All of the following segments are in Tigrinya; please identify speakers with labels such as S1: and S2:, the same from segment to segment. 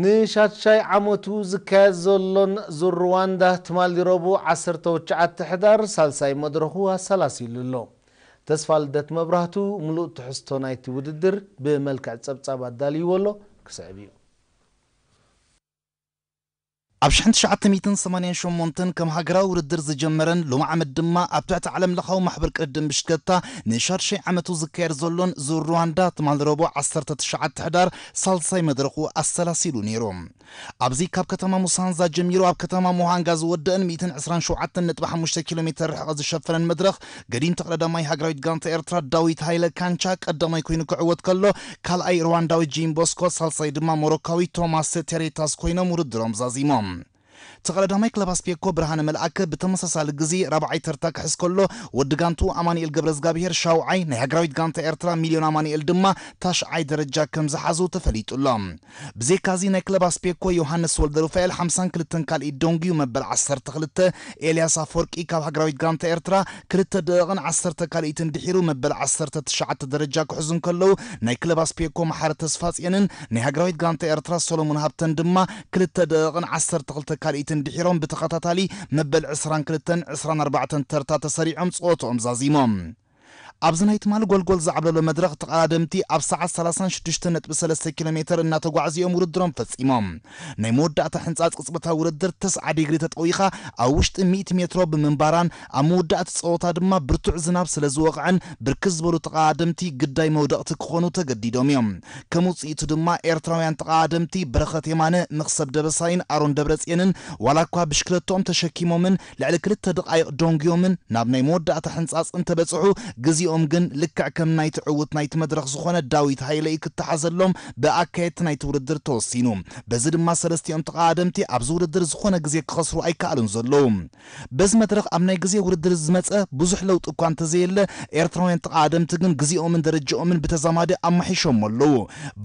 S1: ንሻድሻይ ዓመቱ ዝካየድ ዘሎን ዙር ርዋንዳ ትማሊ ረቡዕ ዓሰርተ ትሽዓተ ሕዳር ሳልሳይ መድረኹ ኣሰላሲሉ ኣሎ። ተስፋልደት መብራህቱ ምሉእ ትሕዝቶ ናይቲ ውድድር ብመልክዕ ጸብጻብ ኣዳልይዎ ኣሎ፣ ክስዕብ እዩ።
S2: ኣብ ሽሕን ትሽዓተ ሚእትን ሰማንያን ሸሞንተን ከም ሃገራዊ ውድድር ዝጀመረን ሎሚ ዓመት ድማ ኣብ ትሕቲ ዓለምለኻዊ ማሕበር ቅድድም ብሽክለታ ንሻድሻይ ዓመቱ ዝካየድ ዘሎን ዙር ሩዋንዳ ትማል ረቡዕ ዓሰርተ ትሽዓተ ሕዳር ሳልሳይ መድረኹ ኣሰላሲሉ ነይሩ። ኣብዚ ካብ ከተማ ሙሳንዛ ጀሚሩ ኣብ ከተማ ሙሃንጋ ዝወደእን ሚእትን ዕስራን ሸውዓተን ነጥቢ ሓሙሽተ ኪሎሜተር ርሕቐት ዝሸፈነን መድረኽ ገዲም ተቐዳዳማይ ሃገራዊት ጋንታ ኤርትራ ዳዊት ሃይለ፣ ካንቻ፣ ቀዳማይ ኮይኑ ክዕወት ከሎ፣ ካልኣይ ርዋንዳዊ ጂም ቦስኮ፣ ሳልሳይ ድማ ሞሮካዊ ቶማስ ቴሬታስ ኮይኖም ውድድሮም ዛዚሞም። ተቐዳዳማይ ክለብ ኣስቤኮ ብርሃነ መልኣከ ብተመሳሳሊ ግዜ ራብዓይ ተርታ ክሕዝ ከሎ፣ ወዲ ጋንትኡ ኣማኒኤል ገብረዝጋብሄር ሻውዓይ፣ ናይ ሃገራዊት ጋንታ ኤርትራ ሚልዮን ኣማኒኤል ድማ ታሽዓይ ደረጃ ከምዝሓዙ ተፈሊጡ'ሎ። ብዘይካዚ ናይ ክለብ ኣስፔኮ ዮሃንስ ወልደሩፋኤል ሓምሳን ክልተን ካልኢት ደንጉዩ መበል ዓሰርተ ክልተ፣ ኤልያስ ኣፍወርቂ ካብ ሃገራዊት ጋንታ ኤርትራ ክልተ ደቕቕን ዓሰርተ ካልኢትን ድሒሩ መበል ዓሰርተ ትሽዓተ ደረጃ ክሕዙ እንከለዉ ናይ ክለብ ኣስፔኮ መሓሪ ተስፋጽዮንን ናይ ሃገራዊት ጋንታ ኤርትራ ሰሎሙን ሃብተን ድማ ክልተ ደቕቕን ዓሰርተ ክልተ ካልኢትን ድሒሮም ብተኸታታሊ መበል ዕስራን ክልተን ዕስራን ኣርባዕተን ተርታ ተሰሪዖም ጸወትኦም ዛዚሞም። ኣብዚ ናይ ትማል ጎልጎል ዝዓብለሎ መድረኽ ተቐዳደምቲ ኣብ ሰዓት ሰላሳን ሽዱሽተን ነጥቢ ሰለስተ ኪሎ ሜተር እናተጓዕዙ እዮም ውድድሮም ፈፂሞም። ናይ መወዳእታ ሕንፃፅ ቅፅበታዊ ውድድር ተስዓ ዲግሪ ተጠዊኻ ኣብ ውሽጢ ሚእቲ ሜትሮ ብምንባራን ኣብ መወዳእቲ ፀወታ ድማ ብርቱዕ ዝናብ ስለዝወቕዐን ብርክት ዝበሉ ተቐዳደምቲ ግዳይ መውደቕቲ ክኾኑ ተገዲዶም እዮም። ከም ውፅኢቱ ድማ ኤርትራውያን ተቐዳደምቲ በረኸት የማነ፣ መኽሰብ ደበሳይን ኣሮን ደብረፅየንን ዋላ እኳ ብሽክለትኦም ተሸኪሞምን ልዕሊ ክልተ ደቓይቕ ዶንጉዮምን ናብ ናይ መወዳእታ ሕንጻጽ እንተ በጽሑ ግዜኦም ግን ልክዕ ከም ናይቲ ዕዉት ናይቲ መድረኽ ዝኾነ ዳዊት ሃይለ እዩ ክተሓዘሎም ብኣካየድቲ ናይቲ ውድድር ተወሲኑ። በዚ ድማ ሰለስቲኦም ተቐዳደምቲ ኣብዚ ውድድር ዝኾነ ግዜ ክኸስሩ ኣይከኣሉን ዘለዉ። በዚ መድረኽ ኣብ ናይ ግዜ ውድድር ዝመጸ ብዙሕ ለውጢ እኳ እንተ ዘየለ ኤርትራውያን ተቐዳደምቲ ግን ግዜኦምን ደረጃኦምን ብተዛማዲ ኣማሒሾሞ ኣለዉ።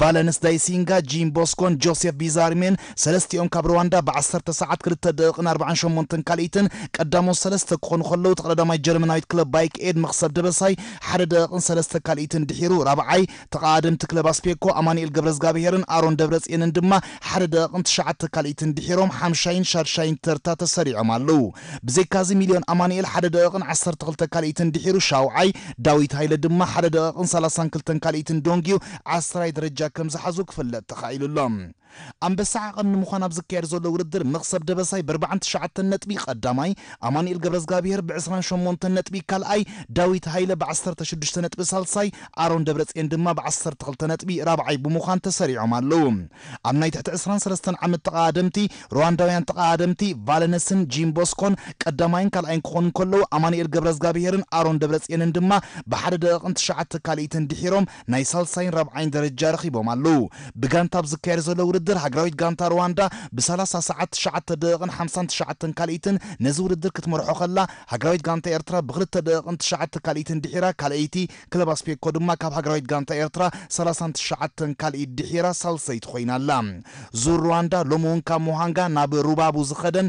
S2: ቫለንስ ዳይሲንጋ፣ ጂም ቦስኮን ጆሴፍ ቢዛሪሜን ሰለስቲኦም ካብ ርዋንዳ ብዓሰርተ ሰዓት ክልተ ደቕቕን ኣርብዓን ሸሞንተን ካልኢትን ቀዳሞት ሰለስተ ክኾኑ ከለዉ እቲ ቐዳዳማይ ጀርመናዊት ክለብ ባይክ ኤድ መኽሰብ ደበሳይ ሓደ ደቕቕን ሰለስተ ካልኢትን ድሒሩ ራብዓይ ተቐኣደምቲ ክለብ ኣስፔኮ ኣማኒኤል ገብረዝጋብሄርን ኣሮን ደብረጽየንን ድማ ሓደ ደቕቕን ትሽዓተ ካልኢትን ድሒሮም ሓምሻይን ሻድሻይን ተርታ ተሰሪዖም ኣለዉ ብዘይካዚ ሚልዮን ኣማኒኤል ሓደ ደቕቕን ዓሰርተ ክልተ ካልኢትን ድሒሩ ሻውዓይ ዳዊት ሃይለ ድማ ሓደ ደቕቕን ሰላሳን ክልተን ካልኢትን ዶንጊዩ ዓስራይ ደረጃ ከምዝሓዙ ክፍለጥ ተኻኢሉ ኣሎ። ኣንበሳ ዓቐን ንምዃን ኣብ ዝካየድ ዘሎ ውድድር መኽሰብ ደበሳይ ብኣርብዓን ትሽዓተን ነጥቢ ቐዳማይ፣ ኣማኑኤል ገብረዝጋብሄር ብዕስራን ሸሞንተን ነጥቢ ካልኣይ፣ ዳዊት ሃይለ ብዓሰርተ ሽዱሽተ ነጥቢ ሳልሳይ፣ ኣሮን ደብረጽየን ድማ ብዓሰርተ ክልተ ነጥቢ ራብዓይ ብምዃን ተሰሪዖም ኣለዉ። ኣብ ናይ ትሕቲ ዕስራን ሰለስተን ዓመት ተቐዳደምቲ፣ ሩዋንዳውያን ተቐዳደምቲ ቫለነስን ጂን ቦስኮን ቀዳማይን ካልኣይን ክኾኑ እንከለዉ፣ ኣማኑኤል ገብረዝጋብሄርን ኣሮን ደብረጽየንን ድማ ብሓደ ደቒቕን ትሽዓተ ካልኢትን ድሒሮም ናይ ሳልሳይን ራብዓይን ደረጃ ረኺቦም ኣለዉ። ብጋንታ ኣብ ዝካየድ ዘሎ ውድድር ሃገራዊት ጋንታ ርዋንዳ ብ ሰላሳ ሰዓት ትሽዓተ ደቂቕን ሓምሳን ትሽዓተን ካልኢትን ነዚ ውድድር ክትመርሖ ከላ ሃገራዊት ጋንታ ኤርትራ ብ ክልተ ደቂቕን ትሽዓተ ካልኢትን ድሒራ ካልኣይቲ ክለብ ኣስፔኮ ድማ ካብ ሃገራዊት ጋንታ ኤርትራ ሰላሳን ትሽዓተን ካልኢት ድሒራ ሳልሰይቲ ኮይና ኣላ። ዙር ርዋንዳ ሎሚ ውን ካብ ሙሃንጋ ናብ ሩባቡ ዝኸደን